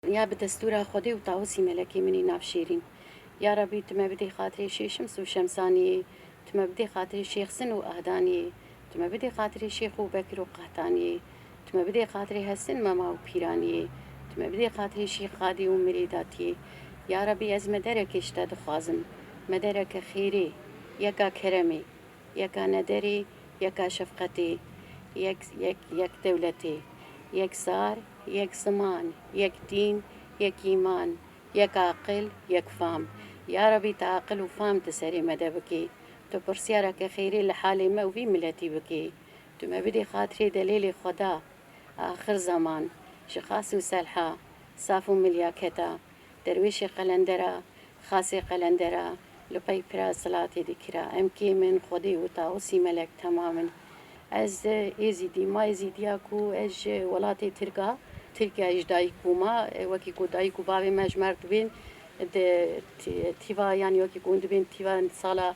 Ya bi destûra Xwedê û Tawusî Melekê minî nav Şêrîn. Ya Rebî tu me bidê xatirê Şêh Şims û Şemsaniyê, tu me bidê xatirê Şêx Sin û Ahdaniyê, tu me bidê xatirê Şêx Ewbekir û Qehtaniyê, tu me bidê xatirê Hesin Mema û Pîraniyê, tu me bidê xatirê Şêx Xadî û Mirêdatiyê. Ya Rebî ez mederekê ji te dixwazim, medereke xêrê, yeka keremê, Yeka nederî, yeka şefqetî, yek yek yek dewletî, yek zar, yek ziman, yek dîn, yek îman, yek aqil, yek fam. Ya Rebî tu aqil û fam di serê me de bikî. Tu pirsyareke xêrê li halê me û vî miletî bikî. Tu me bidî xatirê delêlê xweda, axir zeman, ji Qasim Selha, saf û milyaketa, derwêşê qelendera, Xasê qelendera li pey pira zilatê dikira. Em kêm in, Xwedê û Taûsî Melek temam in. Ez Êzîdîm. Ma Êzîdiya ku ez ji welatê Tirk a, Tirkiyeyê ji dayik bûma, wekî ku dayik û bavê me ji mer dibên di tîva yanî wekî ku hûn dibên tîva sala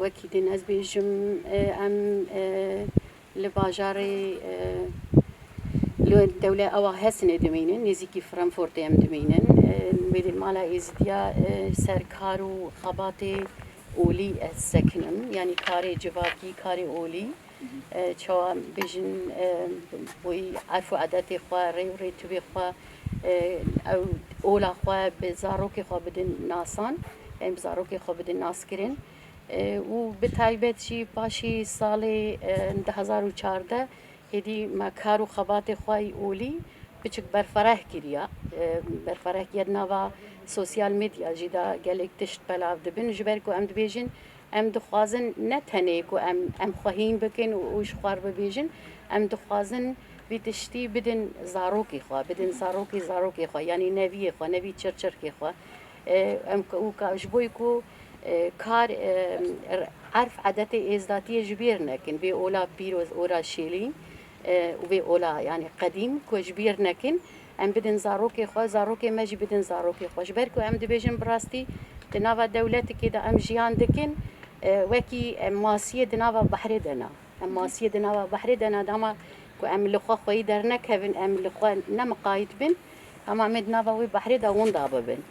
Wekî din ez bêjim em li bajarê li dewle awa Hesenê dimînin, nêzîkî Fremfortê em dimînin. Wê dê mala Êzidiya ser kar û xebatê olî ez sekinim. Yanî karê civakî, karê olî. Çawa bêjin wî erf û edetê xwe, rê û rêtûvê xwe, ew ola xwe bi zarokê xwe bidin nasan, em bi zarokê xwe bidin naskirin û bi taybet jî paşî salê du hezar û çardeh hêdî me kar û xebatê xwe yî olî biçik berfireh kiriya. Berfireh giya di nava sosyal medya jî de gelêk tişt belav dibin ji ber ku em dibêjin, Em dixwazin ne tenê ku em em xwe hîn bikin û ji xwe re bibêjin, em dixwazin vî tiştî bidin zarokê xwe, bidin zarokê zarokê xwe yanî neviyê xwe, nevî çirçirkê xwe. Em û ji bo ku kar erf edetê êzdatiyê ji bîr nekin, vê ola pîroz, ola şêlîn û vê ola yanî qedîm ku ji bîr nekin. Em bidin zarokê xwe, zarokê me jî bidin zarokê xwe. Ji ber ku em dibêjin bi rastî di nava dewletikê de em jiyan dikin, wekî em masiyê di nava behrê de ne. Em masiyê di nava behrê de ne, dema ku em li xwe xweyî dernekevin, em li xwe nemiqayît bin, dema em ê di nava wê behrê de winda bibin.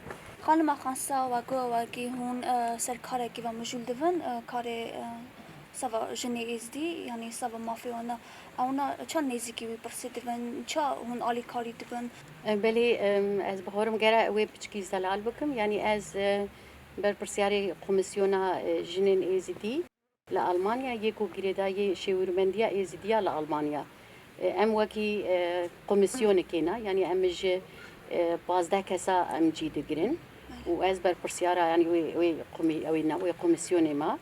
Xanima Xansa wego wekî hûn ser karekî ve mijûl dibin, karê seba jinê Êzidî yanî seba mafê wan e. Ewna ça nêzîkî wî pirsî dibin, ça hûn alîkarî dibin. Belê ez bixwarim gera wê piçikî zelal bikim, yanî ez berpirsyarê Komîsyona Jinên Êzidî li Almanya yê ku girêda yê Şêwirmendiya Êzidî ya li Almanya. Em wekî komîsyonekê ne, yanî em ji pazdeh kesa em cî digirin û ez berpirsyara yanî wê wê komî wê ne wê komîsyonê me.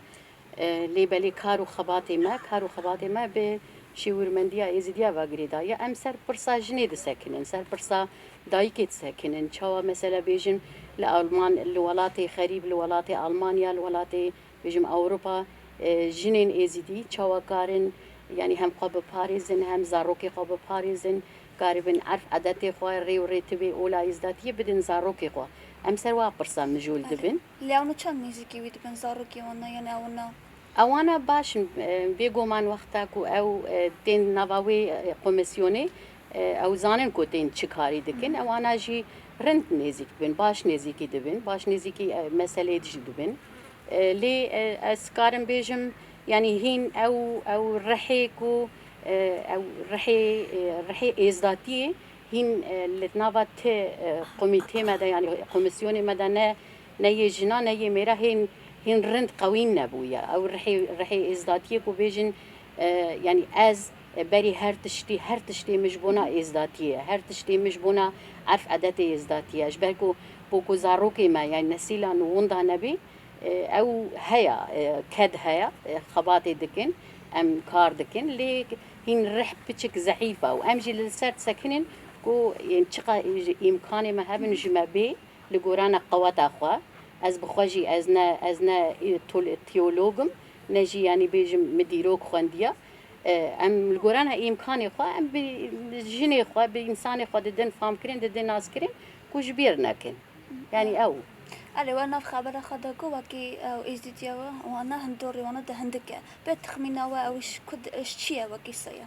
Lê belê kar û xebatê me, kar û xebatê me bi şêwirmendiya Êzîdiya va girêda ye. Em ser pirsa jinê disekinin, ser pirsa dayikê disekinin. Çawa mesela bêjin li Alman, li welatê xerîb, li welatê Almanya, li welatê bêjim Ewropa jinên Êzîdî çawa karin yanî hem xwe biparêzin, hem zarokê xwe biparêzin, karibin erf edetê xwe, rê û rêtibê ola Êzdatiyê bidin zarokê xwe. Em ser wa pirsa mijûl dibin. Lê ew niçand nêzîkî wî dibin zarokê wan na yanî ew na. Ewana baş in bêgoman wexta ku ew tên nava wê komîsyonê ew zanin ku tên çi karî dikin ewana jî rind nêzîk dibin baş nêzîkî dibin baş nêzîkî meseleyê dijî dibin. Lê ez dikarim bêjim yanî hîn ew ew rihê ku ew rihê rihê êzdatiyê Hîn li di nava ti komîtê me de yanî komîsyonê me de ne ne yê jinan ne yê mêra hên hîn rind qewîm nebûye. Ew rihê rihê êzdatiyê ku bêjin yanî ez berî her tiştî her tiştê min ji bona êzdatiyê ye. Her tiştê min ji bona erf edetê êzdatiyê ye. Ji ber ku ku ku zarokê me yanî nesîla nû winda nebî ew heya ked heya xebatê dikin em kar dikin lê Hîn rih piçik zehîf a û em jî li ser disekinên ku yên çiqa ji îmkanê me hebin ji me bê li gorana qeweta xwe. Ez bi xwe jî ez ne ez ne tiyolog im ne jî yanî bêjim min dîrok xwendiya. Em li gorana îmkanê xwe em bi jinê xwe bi însanê xwe didin famkirin didin naskirin ku ji bîr nekin. Yanî ew. Elê wan nav xebera xwe de ku wekî ew êzdîtî ye û wana hunturî wana di hindik e. Bi texmîna we ew ji ku ji çi ye wekî se ye?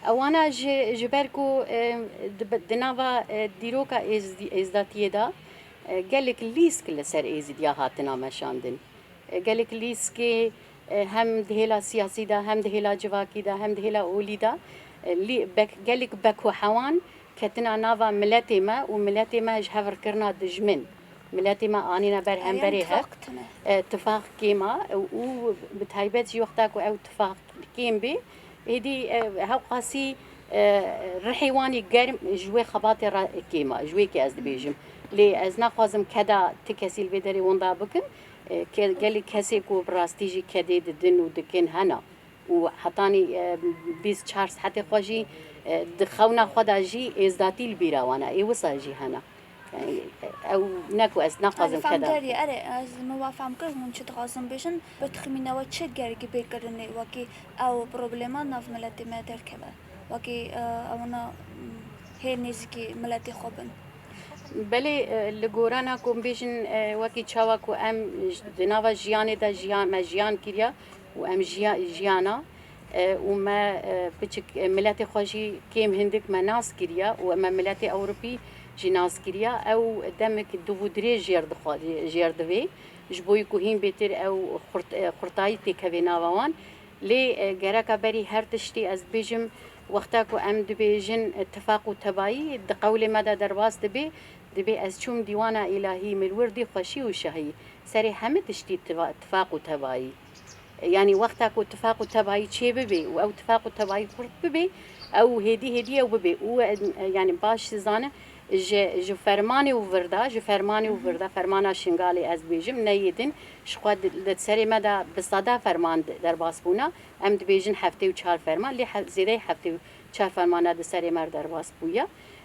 Wana ji ji ber ku di nava dîroka êzdatiyê de gelek lîsk li ser êzidiya hatina meşandin. Gelek lîskê hem di hêla siyasî de, hem di hêla civakî de, hem di hêla olî de gelek bek û hewan Ketina nava miletê me û miletê me ji hev rkirina dijmin, miletê me anîna ber hemberê hev, tifax kêm a û bi taybet jî wexta ku ew tifax kêm bê, êdî hewqasî rihê wan jî germ ji wê xebatê re kêm a, ji wê kê ez dibêjim. Lê ez naxwazim keda ti kesî li vê derê winda bikim, gelê kesê ku bi rastî jî kedê didin û dikin hene, û hetanî bîst û çar saetê xwe jî di xewna xwe de jî êzdatî li bîra wan e, ê wisa jî hene. Yanî ew ne ku ez naxwazim keda. Erê fem derê, ez min wa fem kir hûn çi dixwazin bêjin, bi texmîna we çi gerî bê kirinê wekî ew problema nav miletê me derkeve, wekî ewna hê nêzîkî miletê xwe bin? Belê li gorana ku em bêjin wekî çawa ku em di nava jiyanê de jiyan me jiyan kiriya, û em jiya jiyana û me biçik miletê xwe jî kêm hindik me nas kiriya û me miletê ewropî jî nas kiriya ew demik div û dirêj jêr dixwe jêr divê ji bo ku hîn bêtir ew xurt xurtayî têk hevê nava wan lê gereka berî her tiştî ez dibêjim wexta ku em dibêjin tifaq û tebayî di qewlê me de derbas dibê Dibê ez çûm dîwana îlahî mir wirdî xweşî û şahî serê heme tiştî tifaq û tebayî. Yanî wexta ku tifaq û tebayî çê bibê û ew tifaq û tebayî xurt bibê ew hêdî hêdî ew bibê û yanî baş dizanim ji ji fermanê û virda ji fermanê û virda fermana Şingalê ez dibêjim neyê din ji xwe di serê me de bi seda ferman derbas bûna em dibêjin heftê û çar ferman lê zêdeyê heftê û çar fermana di serê me re derbas bûye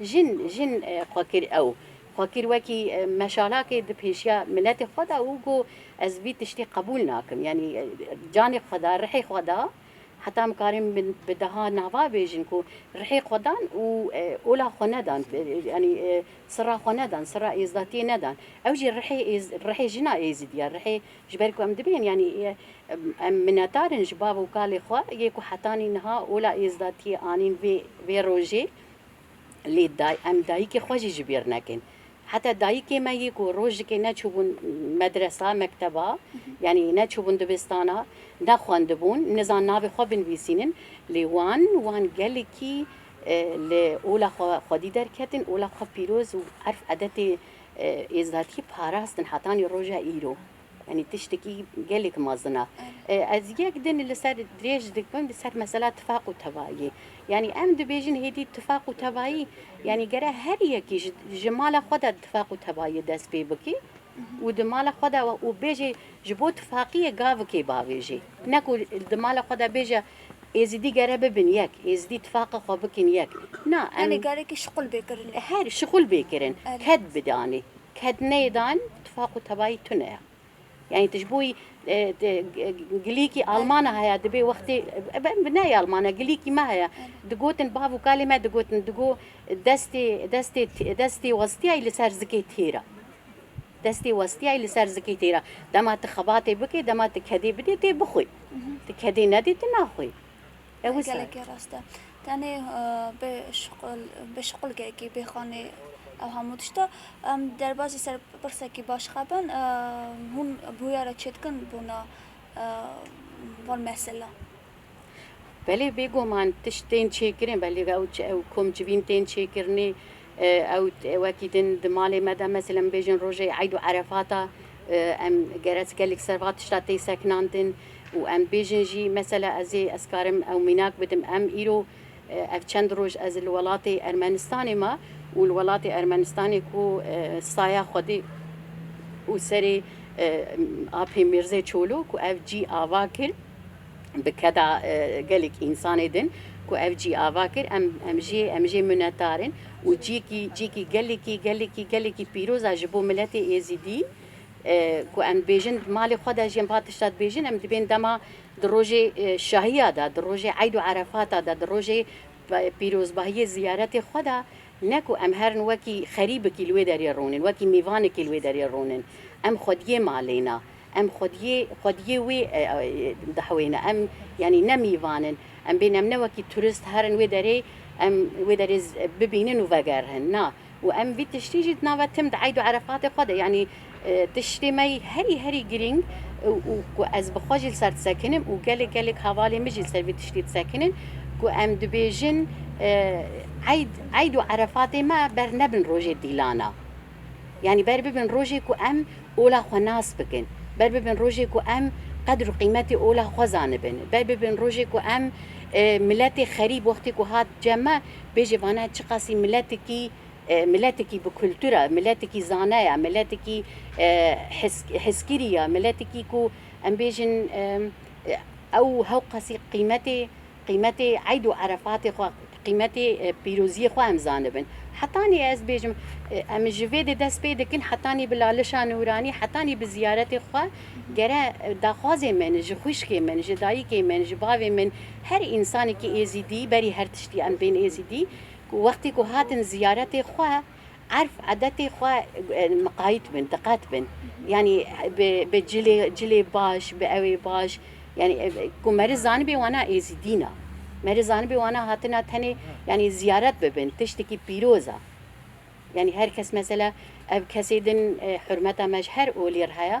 Jin, jin xwe kir ew. Xwe kir wekî meşalakê di pêşiya miletê xwe de û got, Ez vî tiştî qebûl nakim. Yanî canê xwe da, rihê xwe da. Heta em karên bi deha nava bêjin ku rihê xwe dan û ola xwe nedan. Yanî sirra xwe nedan, sirra êzdatiyê nedan. Ew jî rihê êz, rihê jina êzidî ye. Rihê ji ber ku em dibên yanî em minetar in ji bav û kalê xwe yê ku hetanî niha ola êzdatiyê anîn vê vê rojê. Lê day em dayikê xwe jî ji bîr nekin. Heta dayikê me yê ku rojikê neçûbûn medresa, mekteba, yanî neçûbûn dibistana, nexwendibûn, nizan navê xwe binivîsînin. Lê wan, wan gelekî li ola xwe xwedî derketin, ola xwe pîroz û erf edetê êzatiyê parastin hetanî roja îro. Yanî tiştekî gelek mezin e. Ez yek din li ser dirêj dikim li ser mesela tifaq û tevayî. Yanî em dibêjin hêdî tifaq û tevayî yanî gere her yekî ji ji mala xwe de tifaq û tevayî dest pê bike û di mala xwe de û bêje ji bo tifaqiyê gavikê bavêjê. Ne ku di mala xwe de bêje Êzidî gere bibin yek, Êzidî tifaqa xwe bikin yek. Na em. Yanî gere ki şixul bê kirin. Her şixul bê kirin, ked bide anî. Kedneydan tifaq û tebayî tune ya. Yanî tu ji bo gilîkî almana heye dibê wextê bi neyê alman e gilîkî me heye digotin bav û kalê me digotin di go destê destê destê westiyayî li ser zikê têr e. Destê westiyayî li ser zikê têr e. Dema tu xebatê bikê dema tu kedê bidê tê bixwî. Tu kedê nedê tu naxwî. Gelekî rast e. Tenê bi şuxul, bi şuxulgekî, bê xanê ew hemû tişta. Em derbasî ser pirsekî baş xebin. Hûn bûyera çêdikin bona van mesela? Belê bêguman tiştên çêkirin, belê ew ew kom civîn tên çêkirinê Ew wekî din di malê me de mesel em bêjin rojê eyd û erefata em gerek gelek ser va tişta tê sekinandin û em bêjin jî mesela ez ê ez karim ew mînak bidim em îro ev çend roj ez li welatê Ermenistanê ma û li welatê Ermenistanê ku saya xwedê û serê Apê Mîrzê Çolo ku ev cî ava kir. bi keda gelek însanê din ku ev cî ava kir em em jê em jê minetar in û cîyekî cîyekî gelekî gelekî gelekî pîroz a ji bo miletê êzîdî ku em dibêjin di malê xwe de jî em va tişta dibêjin em dibên dema di rojê şahiya de di rojê eyd û erefata de di rojê pîrozbahiyê ziyaretê xwe de ne ku em herin wekî xerîbekî li wê derê rûnin wekî mêvanekî li wê derê rûnin em xwediyê malê na Em xwediyê xwediyê wê dihewîne. Em yanî ne mîvan in. Em bên em ne wekî turist herin wê derê em wê derê bibînin û vegerihin. Na. Û em vî tiştî jî di nava tim di eydû erefatê xwe de yanî tiştê me yî herî herî girîng û ku ez bi xwe jî li ser disekinim û gelek gelek hevalên min jî li ser vî tiştî disekinin ku em dibêjin eyd eydû erefatê me bernebin rojê dîlana. Yanî ber bibin rojê ku em ola xwe nas bikin, ber bibin rojê ku em qedr û qîmetê ola xwe zanibin, ber bibin rojê ku em miletê xerîb wextê ku hat cem me bêjê vane çiqasî miletikî miletikî bi kultur e, miletikî zane ye, miletikî heskirî ye, miletikî ku em bêjin ew hewqasî qîmetê Qîmetê Eid û Erefatê xwe, qîmetê pîroziyê xwe em zanibin. Hetanî ez bêjim, em ji vê dê dest pê dikin, hetanî bi lalişa nûranî, hetanî bi ziyaretê xwe, gere daxwazê min ji xwişkê min, ji dayikê min, ji bavê min, her însanekî êzidî, berî her tiştî em bên êzidî, ku wextê ku hatin ziyaretê xwe, Erf edetê xwe miqayît bin, diqet bin. Yanî bi bi cilê cilê baş, bi ewê baş. Yanî ku meriz zanibê wana êzîdî na. Meriz zanibê wana hatina tenê yanî ziyaret bibin, tiştekî pîroz a. Yanî her kes mesela ev kesê din hurmeta me ji her olî re heye.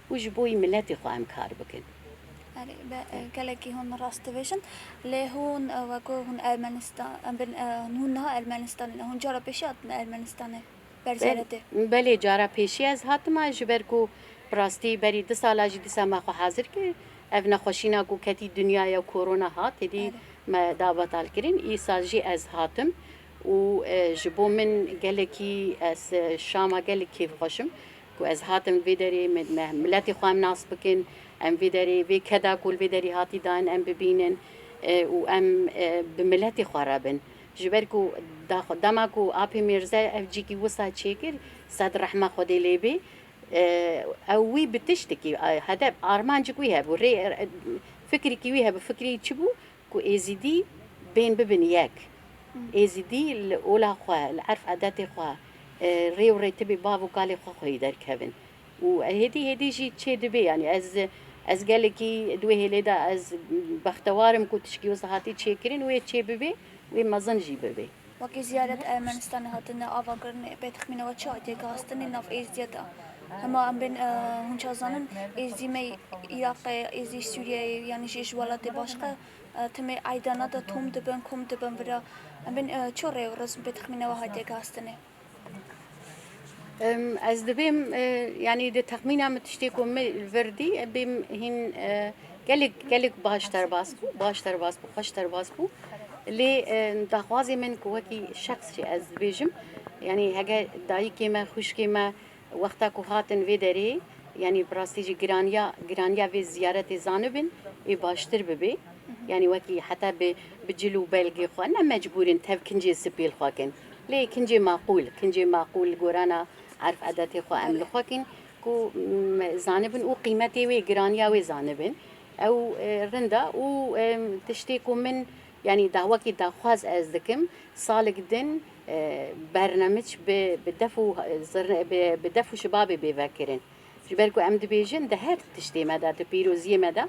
Û ji bo wî miletê xwe em kar bikin. Erê be gelekî hûn rast dibêjin. Lê hûn weko hûn Ermenistan bin hûn niha Ermenistanê ne. Hûn cara pêşî hatine Ermenistanê ber zeredê. Belê cara pêşî ez hatima ji ber ku bi rastî berî di sala jî dîsa me xwe hazir kir. Ev nexweşîna ku ketî dinyaya korona hat êdî me da betal kirin. Îsal jî ez hatim û ji bo min gelekî ez şama gelek kêfxweş im. Ku ez hatim vê derê me em miletê xwe em nas bikin, em vê derê vê keda ku li vê derê hatî dayîn em bibînin û em bi miletê xwe re bin. Ji ber ku daxwe dema ku Apê Mîrze ev cîkî wisa çêkir sed rehma Xwedê lê bê ew wî bi tiştekî hedef armancik wî hebû rê fikirikî wî hebû fikirî çi bû Ku Êzîdî bên bibin yek. Êzîdî li ola xwe, li erf edetê xwe, rê û rêtibê bav û kalê xwe xweyî derkevin. Û hêdî hêdî jî çê dibe yanî ez ez gelekî di wê hêlê de ez bextewar im ku tişkî wisa hatî çêkirin wê çê bibê, wê mezin jî bibê. Weke ziyaret a Ermenistanê hatine avakirinê, bê texmîna we çi hatiye gihastinê nav Êzdiya de? Hema em bên hûn ça zanin, Êzdî me Îraqê, Êzdî Sûriyeyê yanî jî ji welatê başke timê eydana de tom dibin, kom dibin vira. Em bên çi rê û rizm bê texmîna we hatiye gihastinê? Ez dibêm yanî di texmîna min tiştê ku min li vir dî em bêm hîn gelek gelek baş derbas bû baş derbas bû xweş derbas bû lê daxwazê min ku wekî şexs jî ez dibêjim yanî heger dayikê me xwişkê me Wexta ku hatin vê derê, yanî bi rastî jî giraniya giraniya vê ziyaretê zanibin ê baştir bibê. Yanî wekî heta bi bi cil û belgê xwe ne mecbûr in tev kincê sipêl xwe kin. Lê kincê maqûl, kincê maqûl li gorana erf edetê xwe em li xwe kin ku zanibin û qîmetê wê, giraniya wê zanibin. Ew rind e û tiştê ku min Yanî da wekî daxwaz ez dikim salig din Bernamiç bi bi def û zirn bi bi def û şibabê bê vekirin. Ji ber ku em dibêjin di her tiştê me de di pîroziyê me de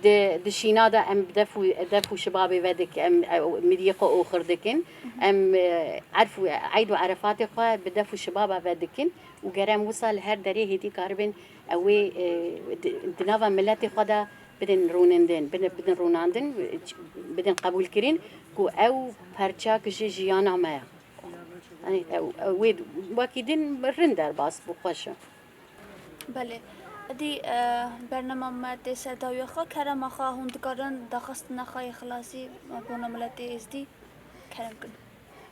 di di şîna de em bi def û def û şibabê ve dik em miriyê xwe oxir dikin. Em erf û eyd û erefatê xwe bi def û şibaba ve dikin û ger em wisa li her derê hêdî karibin ewê di di nava miletê xwe de Bidin rûnindin, bidin rûnandin, bidin qebûlkirin ku ew parçeyek ji jiyana me ye. Yanî ew wê wekî din rind derbas bû xweş e. Belê. Edî bernama me tê ser dawiya xwe, kerema xwe hûn dikarin daxistina xwe yê xilasî bona miletê êzdî kerem bikin.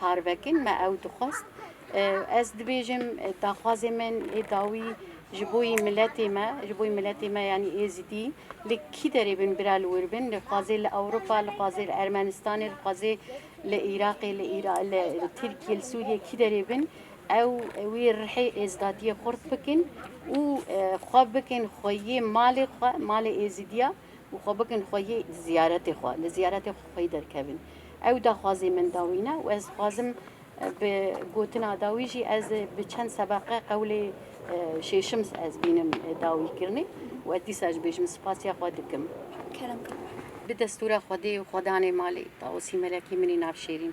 Parvekîn me ew dixwest. Ez dibêjim daxwazê min ê dawî ji bo yî miletê me, ji bo yî miletê me yanî Êzidî li kî derê bin bira li wir bin, li xwazê li Ewropa, li xwazê li Ermenistanê, li xwazê li Iraqê, li li Tirkiyê, li Sûriyê kî derê bin ew wî rihê êzdatiyê xurt bikin û xwe bikin xweyê malê xwe, malê Êzidiya û xwe bikin xweyê ziyaretê xwe, li ziyaretê xwe xweyî derkevin. Ew daxwazê min da wî ne û ez dixwazim bi gotina da wî jî ez bi çend sebeqe qewlê şêşim ez bînim da wî kirinê û ez dîsa jî bêjim spasiya xwe dikim. Kerem Kara. Bi destûra Xwedê û xwedanê malê, Tawusî Melekî minî nav Şêrîn.